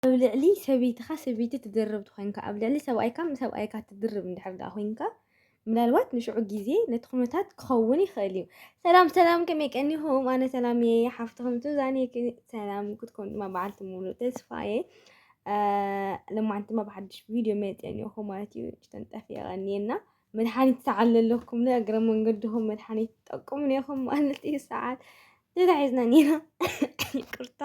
ኣብ ልዕሊ ሰበይትኻ ሰበይቲ ትድርብ ትኾይንካ ኣብ ልዕሊ ሰብኣይካ ሰብኣይካ ትድርብ እንድሕር ደኣ ኮይንካ ምናልባት ንሽዑ ግዜ ነቲ ኩነታት ክኸውን ይኽእል እዩ ሰላም ሰላም ከመይ ቀኒኹም ኣነ ሰላም እየ ሓፍትኹም ሱዛን ሰላም ክትኮኑ ድማ በዓልቲ ሙሉእ ተስፋ እየ ለማዓንቲ ድማ ብሓድሽ ቪድዮ መፅአ እኒኦኹ ማለት እዩ ጭተን ጠፊአ ቀኒየና መድሓኒት ሰዓል ዘለኩም ንእግረ መንገድኹም መድሓኒት ጠቁሙ ኔኹም ማለት እዩ ሰዓል ሌላ ሒዝና ኒና ይቅርታ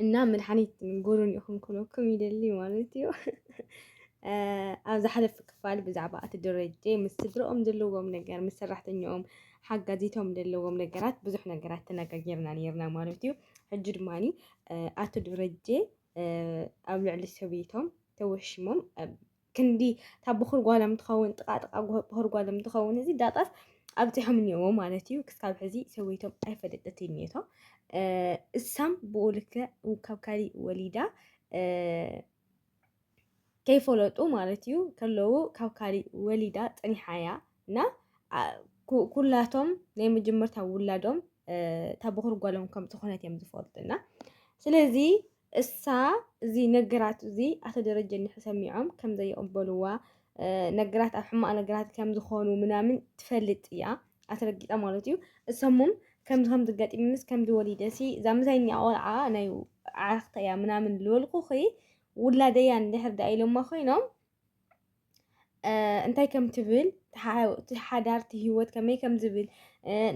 እና መድሓኒት ጎሮን ኢኹም ክነኩም ይደሊ ማለት እዩ ኣብ ዝሓለፈ ክፋል ብዛዕባ እቲ ደረጀ ምስ ስድረኦም ዘለዎም ነገር ምስ ሰራሕተኛኦም ሓጋዚቶም ዘለዎም ነገራት ብዙሕ ነገራት ተነጋጊርና ነርና ማለት እዩ ሕጂ ድማ ኣቶ ደረጀ ኣብ ልዕሊ ሰበይቶም ተወሽሞም ክንዲ እታ ብኹር ጓሎም ትኸውን ጥቓ ጥቓ ብኹር ጓሎም ትኸውን እዚ ዳጣስ ኣብፂሖም እኒኦዎ ማለት እዩ ክሳብ ሕዚ ሰበይቶም ኣይፈለጠት እኒቶ እሳም ብኡ ልክዕ ካብ ካሊእ ወሊዳ ከይፈለጡ ማለት እዩ ከለዉ ካብ ካሊእ ወሊዳ ፀኒሓ እያ እና ኩላቶም ናይ መጀመርታ ውላዶም እታ በኹር ጓሎም ከም ዝኾነት እዮም ዝፈልጡ እና ስለዚ እሳ እዚ ነገራት እዚ ኣቶ ደረጀ እንሕ ሰሚዖም ከም ዘይቕበልዋ ነገራት ኣብ ሕማቕ ነገራት ከም ዝኾኑ ምናምን ትፈልጥ እያ ኣትረጊጣ ማለት እዩ እሰሙም ከምዚ ከምዚ ገጢምንስ ከምዚ ወሊደሲ እዛ ምሳይ እኒኣ ቆልዓ ናይ ዓርኽተ እያ ምናምን ዝበልኩኺ ውላደያ እንድሕር ደኣ ኢሎማ ኮይኖም እንታይ ከም ትብል እቲ ሓዳር እቲ ሂወት ከመይ ከም ዝብል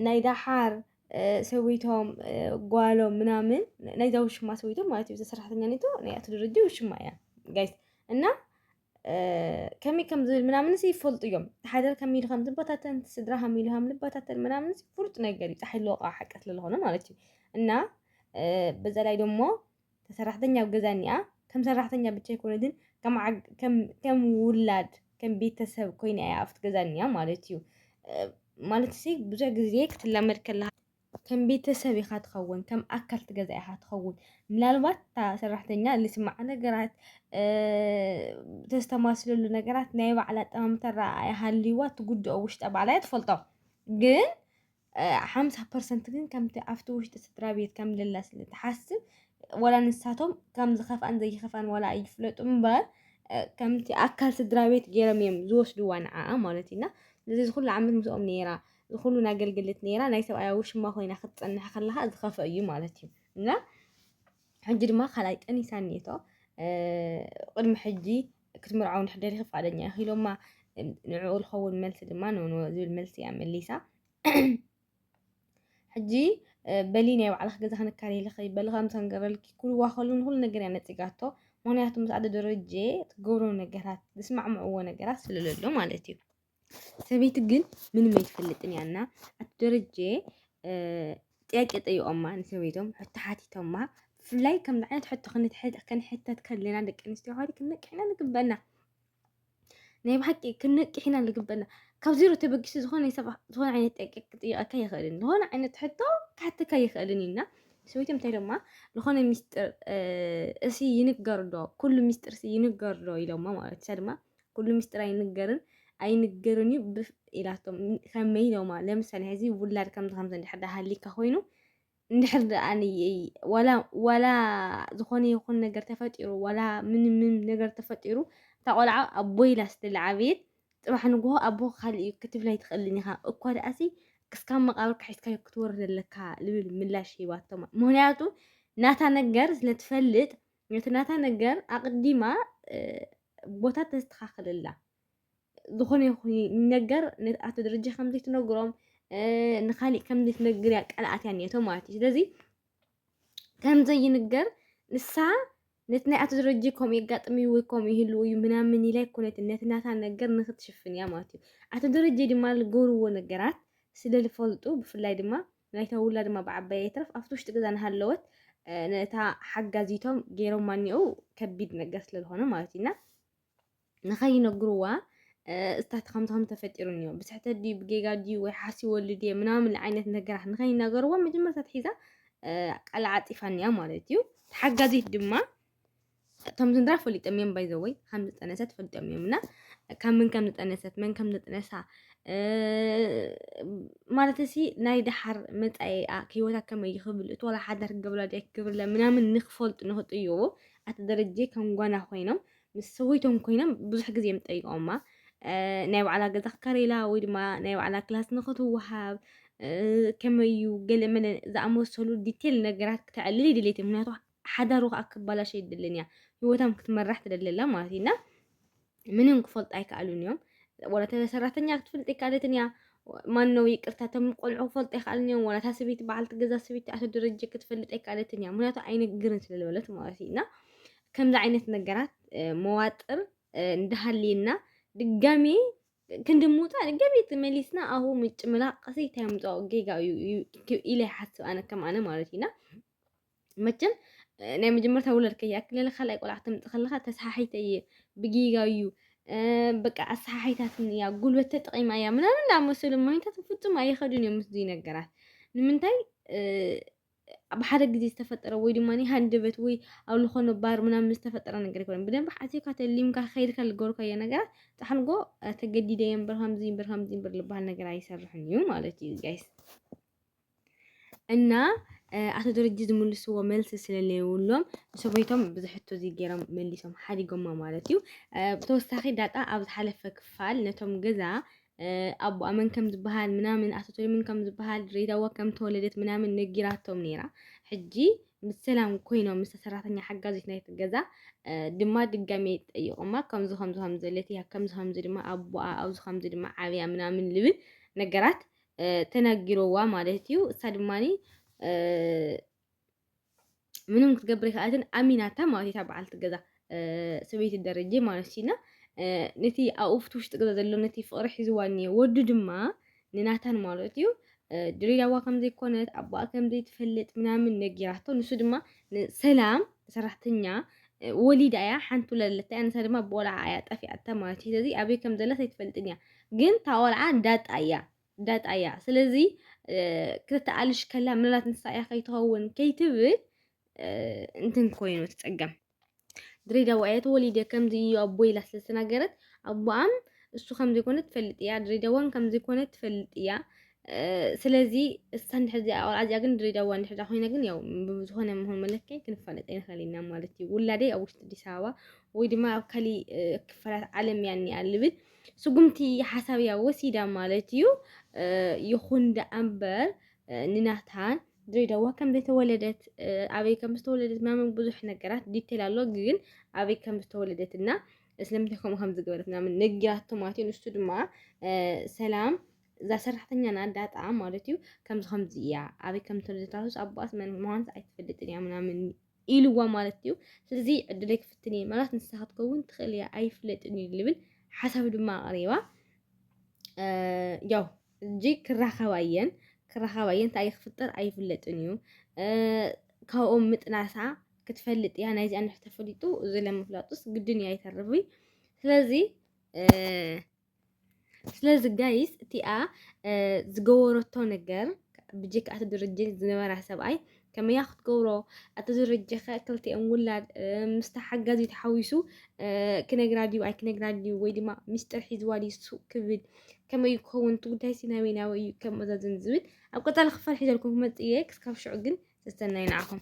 ናይ ደሓር ሰበይቶም ጓሎም ምናምን ናይዛ ውሽማ ሰበይቶም ማለት እዩ። እዛ ሰራሕተኛ ኔቶ ናይ ኣቶ ደረጀ ውሽማ እያ ጋይስ እና ከመይ ከም ዝብል ምናምን ሲ ይፈልጡ እዮም። እቲ ሓዳር ከመይ ኢሉ ከም ዝበታተን እቲ ስድራ ከመይ ኢሉ ከም ዝበታተን ምናምን ፍሉጥ ነገር እዩ። ፀሓይ ልወቃ ሓቂ ስለዝኾነ ማለት እዩ እና በዛ ላይ ደሞ እታ ሰራሕተኛ ኣብ ገዛ እኒኣ ከም ሰራሕተኛ ብቻ ኣይኮነትን ከም ውላድ ከም ቤተሰብ ኮይና እያ ኣብቲ ገዛ እኒኣ ማለት እዩ ማለት ሲ ብዙሕ ግዜ ክትላመድ ከለካ ከም ቤተሰብ ኢኻ ትኸውን ከም ኣካል ትገዛ ኢኻ ትኸውን ምናልባት እታ ሰራሕተኛ ልስማዓ ነገራት ተስተማስለሉ ነገራት ናይ ባዕላ ኣጠማምታ ረኣያ ሃልይዋ ትጉድኦ ውሽጣ ባዕላ እያ ትፈልጦ ግን ሓምሳ ፐርሰንት ግን ከምቲ ኣብቲ ውሽጢ ስድራ ቤት ከም ልላ ስለ ትሓስብ ወላ ንሳቶም ከም ዝኸፍኣን ዘይኸፍኣን ወላ ኣይፍለጡ እምበር ከምቲ ኣካል ስድራ ቤት ገይሮም እዮም ዝወስድዋ ንዓኣ ማለት እዩና እዚ ዝኩሉ ዓመት ምስኦም ነይራ ዝኩሉ ናገልግልት ነይራ ናይ ሰብኣያ ውሽማ ኮይና ክትፀንሕ ከለካ ዝኸፍእ እዩ ማለት እዩ እና ሕጂ ድማ ካልኣይ ጠኒሳ እኒቶ ቅድሚ ሕጂ ክትምርዓው እንድሕር ደሊኺ ፍቓደኛ ኢኺ ኢሎማ። ንዕኡ ዝኸውን መልሲ ድማ ኖ ኖ ዝብል መልሲ እያ መሊሳ። ሕጂ በሊ ናይ ባዕልኺ ገዛ ክንካልየልኺ በሊ ከም ሰንገረልኪ ክብልዋ ከሉ ንኹሉ ነገር እያ ነጺጋቶ። ምክንያቱ ምስ ኣደ ደረጀ ትገብሮ ነገራት ዝስማዕምዕዎ ነገራት ስለለሎ ማለት እዩ። ሰበይቲ ግን ምንም ኣይትፈልጥን እያ እና ኣቶ ደረጀ ጥያቄ ጠይቆማ ንሰበይቶም ሕቶ ሓቲቶማ ብፍላይ ከም ዓይነት ሕቶ ክንሕተት ከለና ደቂ ኣንስትዮ ኸ ክንነቅሕና ንግበና ናይ ብሓቂ ክንነቅሕና ንግበና ካብ ዜሮ ተበጊሱ ዝኾነ ዝኾነ ዓይነት ጥያቄ ክጥይቀካ ይኽእልን ዝኾነ ዓይነት ሕቶ ክሓተካ ይኽእልን እዩና ሰበይቶም እንታይ ደማ ዝኾነ ሚስጥር እሲ ይንገር ዶ ኩሉ ሚስጥር እሲ ይንገር ዶ ኢሎማ ማለት እሳ ድማ ኩሉ ሚስጥር ኣይንገርን ኣይንገርን እዩ ብፍ ኢላቶም ከመይ ኢሎማ ለምሳሌ ሕዚ ውላድ ከምዚ ከምዚ እንድሕር ድኣ ሃሊካ ኮይኑ እንድሕር ድኣ ዋላ ዋላ ዝኾነ ይኹን ነገር ተፈጢሩ ዋላ ምን ምን ነገር ተፈጢሩ እታ ቆልዓ ኣቦይ ኢላ ስለዝዓበየት ጽባሕ ንግሆ ኣቦ ካልእ እዩ ክትብል ኣይትኽእልን ኢኻ እኳ ደኣሲ ክስካብ መቃብር ክሒድካዮ ክትወርድ ኣለካ ዝብል ምላሽ ሂባቶማ ምክንያቱ ናታ ነገር ስለትፈልጥ ነቲ ናታ ነገር ኣቕዲማ ቦታ ተስተኻኽለላ ዝኾነ ይኹን ነገር ኣቶ ደረጃ ከምዘይ ትነግሮም ንካሊእ ከምዘይ ትነግር እያ ቀልኣት እያ ኔቶ ማለት እዩ ስለዚ ከምዘይ ይንገር ንሳ ነቲ ናይ ኣቶ ደረጀ ከምኡ የጋጥም እዩ ወይ ከምኡ ይህሉ እዩ ምናምን ኢላ ይኮነት ነቲ ናታ ነገር ንክትሽፍን እያ ማለት እዩ ኣቶ ደረጀ ድማ ዝገብርዎ ነገራት ስለዝፈልጡ ብፍላይ ድማ ናይታ ውላድ ድማ ብዓባያ ይትረፍ ኣብቲ ውሽጢ ገዛ እናሃለወት ነታ ሓጋዚቶም ገይሮማ እኒኦ ከቢድ ነገር ስለዝኾነ ማለት እዩና ንኸይነግርዋ እስታት ከምዚ ከም ተፈጢሩ እኒኦ ብስሕተ ድዩ ብጌጋ ድዩ ወይ ሓሲ ወልድ እየ ምናምን ዓይነት ነገራት ንኸይናገርዎ መጀመርታ ትሒዛ ቃል ዓፂፋ እኒኣ ማለት እዩ ተሓጋዚት ድማ እቶም ስድራ ፈሊጦም እዮም ባይ ዘወይ ከም ዝጠነሰት ፈሊጦም እዮም እና ካብ ምን ከም ዝጠነሰት መን ከም ዝጥነሳ እ፣ ማለት እሲ ናይ ደሓር መጻኢኣ ህይወታ ከመይ እዩ ክብል እቲ ዋላ ሓዳር ክገብራ ድያ ክገብርላ ምናምን ንክፈልጡ ንክጥይቁ ኣቲ ደረጀ ከም ጓና ኮይኖም ምስ ሰበይቶም ኮይኖም ብዙሕ ግዜ እዮም ጠይቆማ እ፣ ናይ ባዕላ ገዛ ክከረይላ ወይ ድማ ናይ ባዕላ ክላስ ንክትወሃብ እ፣ ከመይ እዩ ገለ መለ ዝኣመሰሉ ዲቴል ነገራት ክተዕልል ይድሌት እዩ ምክንያቱ ሓዳሩ ከኣ ክባላሸ ኣይደልን እያ ሂወታም ክትመራሕ ትደሊ ኣላ ማለት እዩ እና ምንም ክፈልጡ ኣይከኣሉን እዮም ወላ እታ ሰራሕተኛ ክትፈልጥ ኣይከኣለትን እያ ማን ነው ይቅርታ እቶም ቆልዑ ክፈልጡ ኣይከኣልን እዮም ወላ እታ ሰበይቲ በዓልቲ ገዛ ሰበይቲ ኣቶ ደረጀ ክትፈልጥ ኣይከኣለትን እያ ምክንያቱ ኣይነግርን ስለዝበለት ማለት እዩ እና ከምዚ ዓይነት ነገራት እ፣ መዋጥር እ፣ እንዳሃልየና ድጋሜ ክንዲ ምውፃእ ድጋሜ ተመሊስና ኣብኡ ምጭምላቕ ሲ እንታይ ምፅኦ ጌጋ እዩ እዩ ኢለ ይሓስብ ኣነ ከም ኣነ ማለት እዩ እና መቸም ናይ መጀመርታ ውለድ ከይኣክለለ ካልኣይ ቆልዓ ክትምጥ ከለካ ተሰሓሒተ እየ ብጌጋ እዩ በቃ ኣሰሓሒታትን እያ ጉልበት ተጠቂማ እያ ምናምን ዝኣመሰሉ ማይታት ፍፁም ኣይኸዱን እዮም ምስዚ ነገራት ንምንታይ ብሓደ ግዜ ዝተፈጠረ ወይ ድማ ሃንደበት ወይ ኣብ ዝኾነ ባር ምናምን ዝተፈጠረ ነገር ይኮነ ብደንብ ሓሲብካ ተሊምካ ከይድካ ዝገበርካዮ ነገራት ፃሕንጎ ተገዲደ እየ እምበር ከምዚ እምበር ከምዚ እምበር ዝበሃል ነገር ኣይሰርሕን እዩ ማለት እዩ ጋይስ እና ኣቶ ደረጀ ዝምልስዎ መልሲ ስለለየብሎም ንሰበይቶም ብዙሕ ሕቶ ዘይገይሮም መሊሶም ሓዲጎማ ማለት እዩ ብተወሳኺ ዳጣ ኣብ ዝሓለፈ ክፋል ነቶም ገዛ ኣቦኣ መን ከም ዝበሃል ምናምን ኣቶ ቶሊምን ከም ዝበሃል ድሬዳዋ ከም ተወለደት ምናምን ነጊራቶም ነይራ ሕጂ ምስ ሰላም ኮይኖም ምስ ሰራሕተኛ ሓጋዚት ናይቲ ገዛ ድማ ድጋሜ ጠይቆማ ከምዚ ከምዚ ከምዘለት እያ ከምዚ ከምዚ ድማ ኣቦኣ ኣብዚ ከምዚ ድማ ዓብያ ምናምን ልብል ነገራት ተናጊሮዋ ማለት እዩ። እሳ ድማ ምንም ክትገብር ይክኣልትን ኣሚናታ ማለት እታ በዓልቲ ገዛ ሰበይቲ ደረጀ ማለት እዩና ነቲ ኣብ ውሽጢ ውሽጢ ገዛ ዘሎ ነቲ ፍቅሪ ሒዝዋ እኒኦ ወዱ ድማ ንናታን ማለት እዩ ድሬዳዋ ከምዘይኮነት ኣቦኣ ከምዘይትፈልጥ ምናምን ነጊራቶ ንሱ ድማ ሰላም ሰራሕተኛ ወሊዳ እያ ሓንቲ ውለለታ እያ ንሳ ድማ ብቆልዓ እያ ጠፊኣታ ማለት እዩ ስለዚ ኣበይ ከምዘላ ዘይትፈልጥን እያ ግን ታቆልዓ ዳጣ እያ ዳጣ እያ ስለዚ ክተተኣልሽ ከላ ምናልባት ንሳ እያ ከይትኸውን ከይትብል እንትን ኮይኑ ትጸገም ድሬዳዋ እያ ተወሊደ ከምዚ እዩ ኣቦ ኢላ ስለ ዝተናገረት ኣቦኣም እሱ ከምዚ ኮነ ትፈልጥ እያ ድሬዳዋን ከምዚ ኮነ ትፈልጥ እያ ስለዚ እሳ እንድሕር እዚኣ ቆልዓ እዚኣ ግን ድሬዳዋ እንድሕር እዚኣ ኮይና ግን ያው ብዝኾነ መሆን መለክዕ ክንፋለጥ ኣይንኽእል ኢና ማለት እዩ ውላደይ ኣብ ውሽጢ ኣዲስ ኣበባ ወይ ድማ ኣብ ካሊእ ክፋላት ዓለም እያ እኒኣ ልብል ስጉምቲ ሓሳብ እያ ወሲዳ ማለት እዩ። ይኹን ደኣምበር ንናታን ድሬዳዋ ከም ዘይተወለደት ኣበይ ከም ዝተወለደት ምናምን ብዙሕ ነገራት ዲቴል ኣሎ፣ ግን ኣበይ ከም ዝተወለደት እና ስለምንታይ ከምኡ ከም ዝገበረት ምናምን ነጊራቶ ማለት እዩ። ንሱ ድማ ሰላም እዛ ሰራሕተኛ ና ዳጣ ማለት እዩ ከምዚ ከምዚ እያ ኣበይ ከም ዝተወለደት ራሱስ ኣቦኣስ መን ምዃኑስ ኣይትፈልጥን እያ ምናምን ኢልዋ ማለት እዩ። ስለዚ ዕድለይ ክፍትን እየ ማለት ንሳ ክትከውን ትኽእል እያ ኣይፍለጥን እዩ ዝብል ሓሳብ ድማ ኣቕሪባ ያው እጂ ክራኸባ እየን ክራኸባ እየን እንታይ ክፍጠር ኣይፍለጥን እዩ ካብኦም ምጥናሳ ክትፈልጥ እያ ናይ እዚኣ ንሕ ተፈሊጡ እዚ ለምፍላጡስ ግድን እዩ ኣይተርፍይ ስለዚ ስለዚ ጋይስ እቲኣ ዝገበረቶ ነገር ብጀካ እቲ ድርጅ ዝነበራ ሰብኣይ ከመያ ክትገብሮ እቲ ድርጅ ኸ ክልቲኦም ውላድ ምስታ ሓጋዚ ተሓዊሱ ክነግራ ድዩ ኣይክነግራ ድዩ ወይ ድማ ሚስጥር ሒዝዋ ድዩ ሱቅ ክብል ከመይ ክኸውን እቲ ጉዳይ ሲ ናበይ ናበይ እዩ ከመዛዝን ዝብል ኣብ ቀፃሊ ክፋል ሒዘልኩም ክመፅእ እየ ክስካብ ሽዑ ግን ሰሰናዩ ንዓኹም